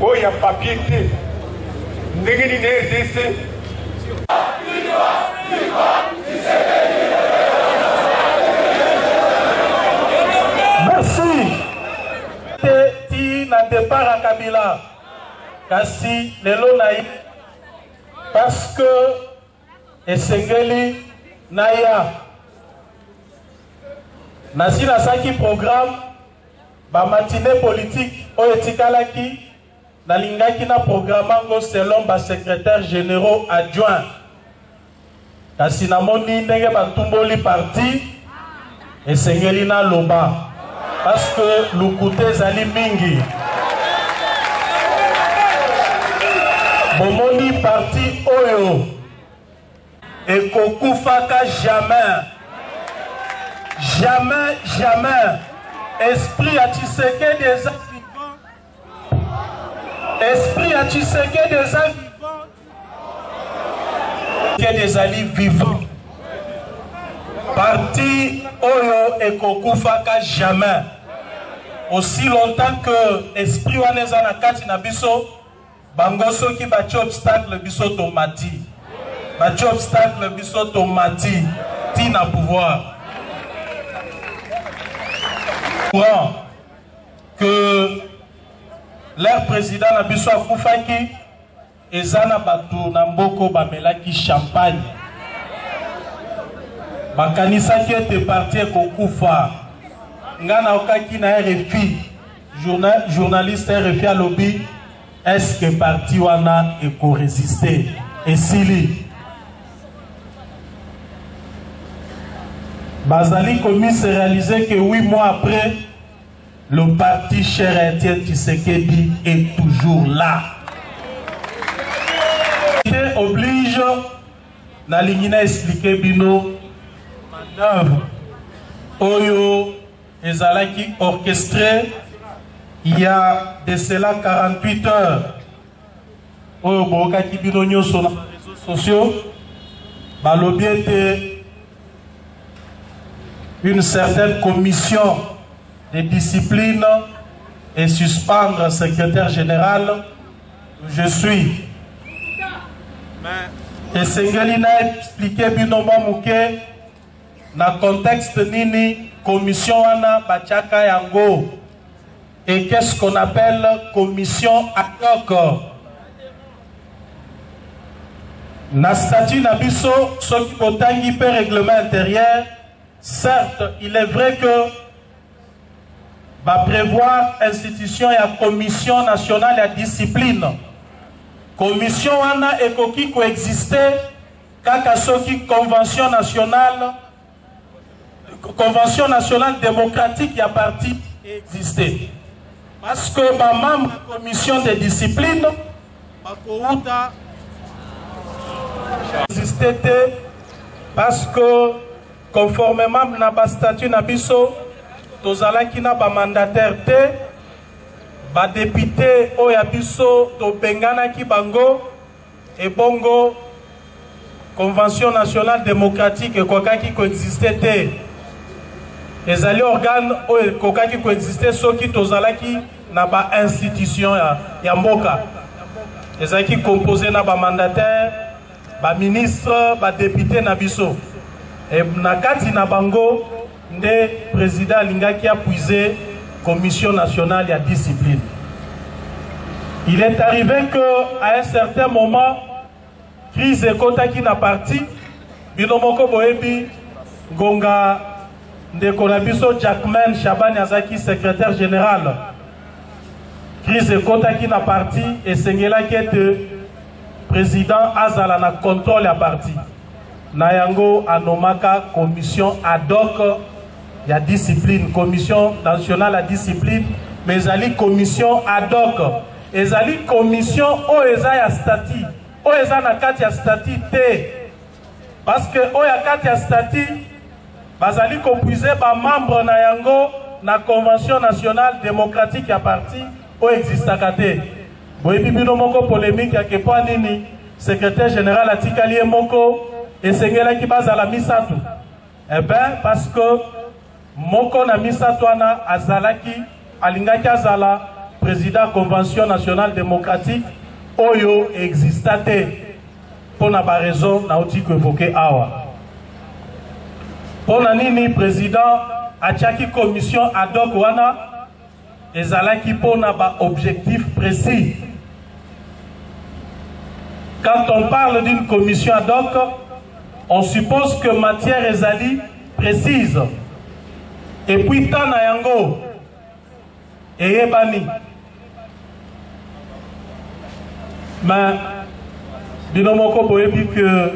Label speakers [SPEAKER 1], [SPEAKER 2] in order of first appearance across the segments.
[SPEAKER 1] oyo ya papier te ndenge nini rdc merci te ti na départ ya kabila kasi lelo na ye parce que esengeli naya nasi nasalaki programme Ba matinees politiques oyo etikalaki, nalingaki na programmer yango selon ba secretaires generaux adjoints. Kasi namoni ndenge batumboli parti, esengeli naloba parce que lokuta ezali mingi. Bomoni parti oyo ekokufaka jamais jamais jamais esprit ya tshisekedi eza vivant esprit ya tshisekedi eza vivant tshisekedi ezali vivant parti oyo ekokufaka jamais aussi longtemps que esprit wana eza na kati na biso Bango soki bati obstacle biso tomati. Bati obstacle biso tomati. Ti na pouvoir. Courant que leur président na biso akufaki eza na bato na mboko bamelaki champagne bakanisaki ete parti ekokufa ngai naokaki na rfi Journa, journaliste RFI alobi est-ce que parti wana ekoresiste esili bazali komise réaliser que 8 mois après le parti cher à Etienne Tshisekedi est toujours là oblige nalingi na explike bino manœuvre oyo Ezalaki orchestre ya de cela 48 heures oyo boyokaki bino nyonso na réseaux sociaux balobi ete une certaine commission de discipline et suspendre secrétaire général je suis esengeli na explike bino mwa moke Na contexte nini commission wana batiaka yango? Et qu'est ce qu'on appelle commission ad hoc? Na statut na biso soki botangi mpe règlement intérieur, certes il est vrai que ba prévoir institution ya commission nationale ya discipline. Commission wana ekoki koexister Kaka soki convention nationale convention nationale démocratique ya parti existe parce que bamembre ya commission de discipline bakouta existe te parce que conformément na bastatut na biso tozalaki na bamandataire te badepute oyo ya biso tobenganaki bango Ebongo Convention nationale democratique ekokaki koexiste te. Ezali organe oyo ekokaki koexiste soki tozalaki na ba institution ya, ya mboka. Ezalaki compose na ba mandataire, ba ministre, ba depute na biso. E, na kati na bango nde president alingaki apuise commission nationale ya discipline il est arrivé que à un certain moment crise ekotaki na parti bino moko boyebi ngonga ndeko na biso jackman shabani azalaki secrétaire général crise ekotaki na parti esengelaki ete président azala na contrôle ya parti Na yango, a nommaka commission ad hoc ya discipline, commission nationale ya discipline, mais ezali commission ad hoc. Ezali commission oyo eza ya statut, oyo eza na kati ya statut te. Parce que oyo ya kati ya statut, bazali kopuize ba membres na yango na convention nationale democratique ya parti oyo existaka te. Boyebi bino moko polemique ya ke mpo nini secretaire general atikali ye moko esengelaki bazala misato eh ben parce que moko na misato wana azalaki alingaki azala président convention nationale démocratique oyo exista te mpo na baraison nauti koevoke awa mpo na nini président atiaki commission ad hoc wana Ezalaki mpo na ba objectifs precis. Quand on parle d'une commission ad hoc, on suppose que matière ezali précise et puis temps na yango eyebani Mais bino moko boyebi que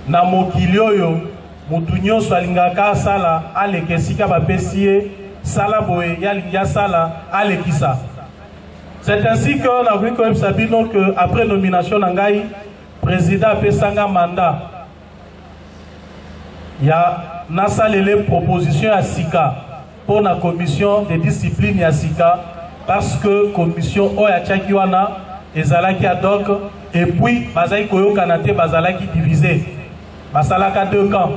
[SPEAKER 1] na mokili oyo moto nyonso alingaka asala aleka esika bapesi ye sala boye ye alingi asala alekisa c'est ainsi que nakoki koyebisa bino que après nomination na ngai président apesanga mandat ya nasalele proposition ya sika mpo na commission de discipline ya sika parce que commission oyo atiaki wana ezalaki ad hoc et puis bazalaki koyokana te bazalaki divise basalaka deux camps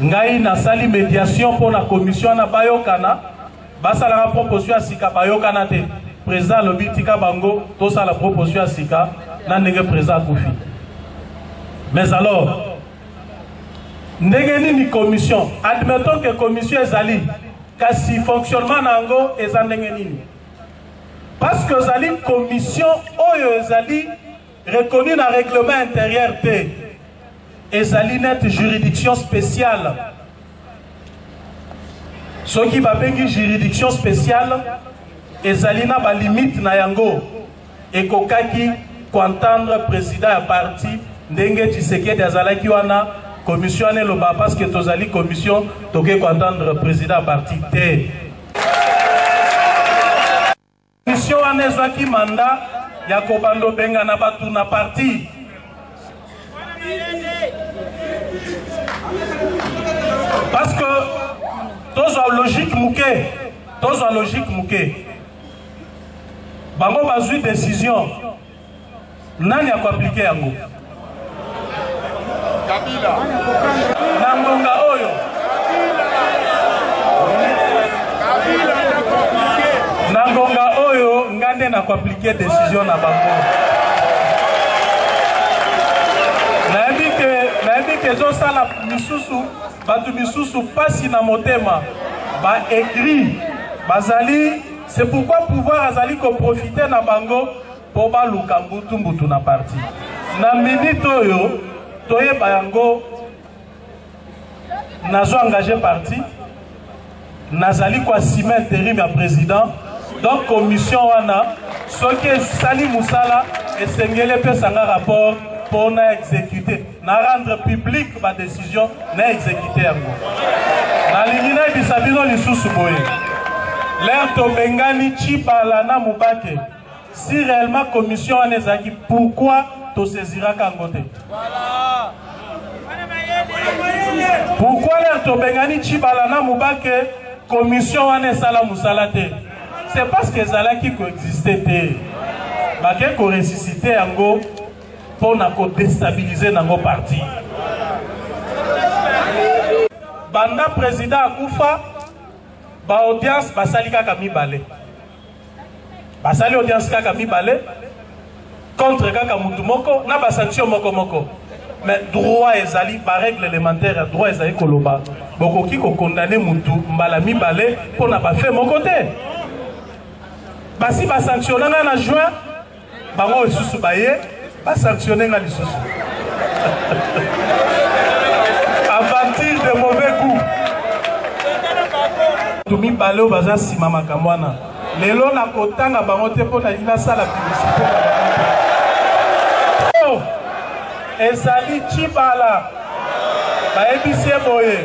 [SPEAKER 1] ngai nasali médiation mpo na commission wana bayokana basalaka proposition ya sika bayokana te président alobi tika bango tosala proposition ya sika na ndenge président akufi mais alors ndenge nini commission admettons que commission ezali kasi fonctionnement na yango eza ndenge nini parce que ozali commission oyo ezali reconnu na règlement intérieur te ezali neti juridiction spéciale soki babengi juridiction spéciale ezali na balimite na yango Ekokaki ko entendre president ya parti ndenge Tshisekedi azalaki wana commission wana eloba parce que tozali commission toke ko entendre president ya parti te. Commission wana ezwaki mandat ya kobanda obengana bato na parti. Parce que tozwa logique moke, tozwa logique moke. bango bazwi decision nani akoaplike yango na ngonga oyo na ngonga oyo ngai nde nakoaplike decision na bango nayebi ke ezosala misusu Bato misusu pasi na motema ba aigris bazali c'est pourquoi pouvoir azali ko profiter na bango po baluka mbutu mbutu na parti na minute oyo toyeba yango nazo engage parti nazali koasime interim ya president donc commission wana soki esali mosala esengeli epesa nga rapport mpo na exécute na rendre publique badécision na exécute yango nalingi nayebisa bino lisusu boye lere tobengani cibala na mobake si réellement commission wana ezalaki pourquoi toseziraka yango te pourquoi lere tobengani cibala na mobake commission wana esala mosala te c'est parce que ezalaki koexiste te bake koresisite yango mpo na kodestabilize nango parti banda président akufa baaudience basali kaka mibale basali audience kaka mibale contre kaka mutu moko na basanction moko moko mais droit ezali barègle élémentaire ya droit ezali koloba bokoki kokondane mutu mbala mibale mpo na bafe moko te basi basanctionna ngai na juin bango lisusu baye basanctionne nga lisusu aventure de mauvais coup bato mibale oyo baza nsima makambo wana lelo nakotanga bango te mpo nalingi nasala publicité oh! ezali cibala bayebisi ye boye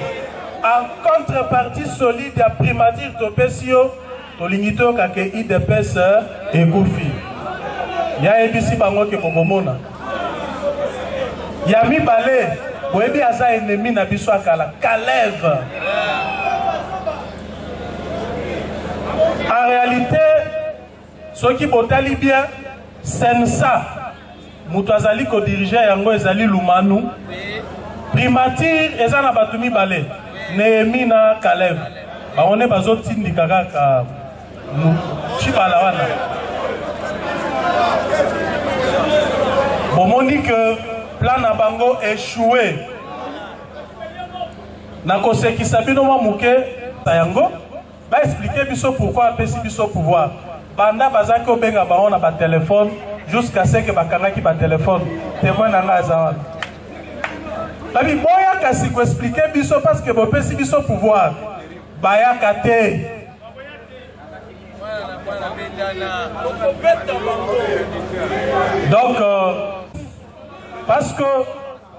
[SPEAKER 1] en contrepartie solide ya primature topesi yo tolingi toyoka ke idps ekufi ya yebisi bango ke bokomona ya mibale boyebi aza enemi na biso akala kaleve en réalité soki botali bien sensa Moto azali ko diriger yango ezali Lumanu. Primature eza na bato mibale, Nehemi na Caleb. Bango nde bazo tindika kaka Tshibala wana. Bomoni que plan na bango echoue. Nakosekisa bino mwa moke yango. Ba expliquer biso pourquoi apesi biso pouvoir banda bazaki kobenga bango na ba telephone jusqu'à ce que bakangaki ba telephone témoin na ngai aza wana babi boya kasi koexplike biso parce que bopesi biso pouvoir bayaka te donc euh, parce que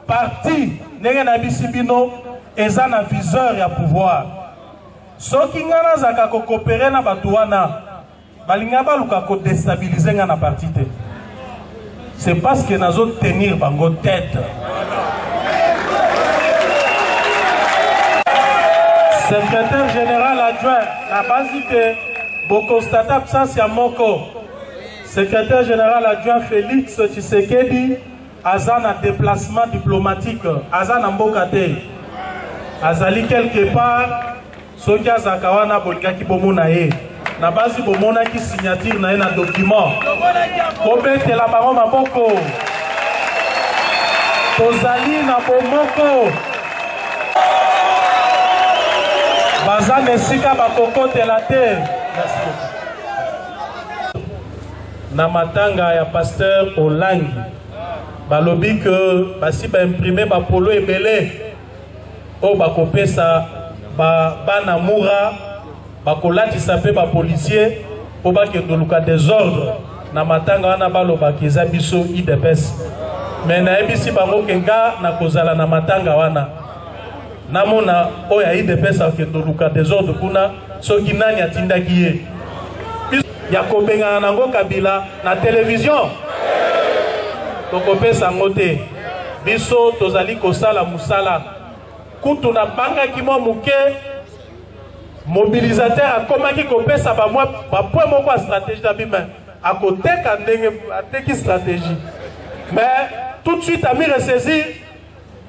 [SPEAKER 1] parti ndenge nayebisi bino eza na viseur ya pouvoir Soki nga nazaka ko coopere na bato wana balinga baluka ko destabiliser nga na parti te. C'est parce que nazo tenir bango tête. Secrétaire général adjoint na basi te bokonstate absence ya moko. Secrétaire général adjoint Félix Tshisekedi aza na deplacement diplomatique aza na mboka te azali quelque part soki azalaka wana bolingaki bomona ye na basi bomonaki signature na ye na document kobetela bango maboko tozali na bomoko baza na esika bakokotela te na matanga ya pasteur Olangi balobi que basi ba imprimer ba polo ebele oyo bakopesa ba bana mura bakolatisa mpe ba policier mpo bakende oluka desordre na matanga wana balobaka eza biso udps me nayebisi bango ke nga nakozala na matanga wana namona oyo ya udps akende oluka desordre kuna soki nani atindaki ye ya kobengana na ngo kabila na television tokopesa ngo te biso tozali kosala mosala kutu nabangaki mwa moke mobilisateur akomaki kopesa bamwa bapwe moko ya stratégie na bima akoteka ndenge ateki stratégie mais tout de suite ami ressaisir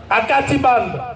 [SPEAKER 1] akati banda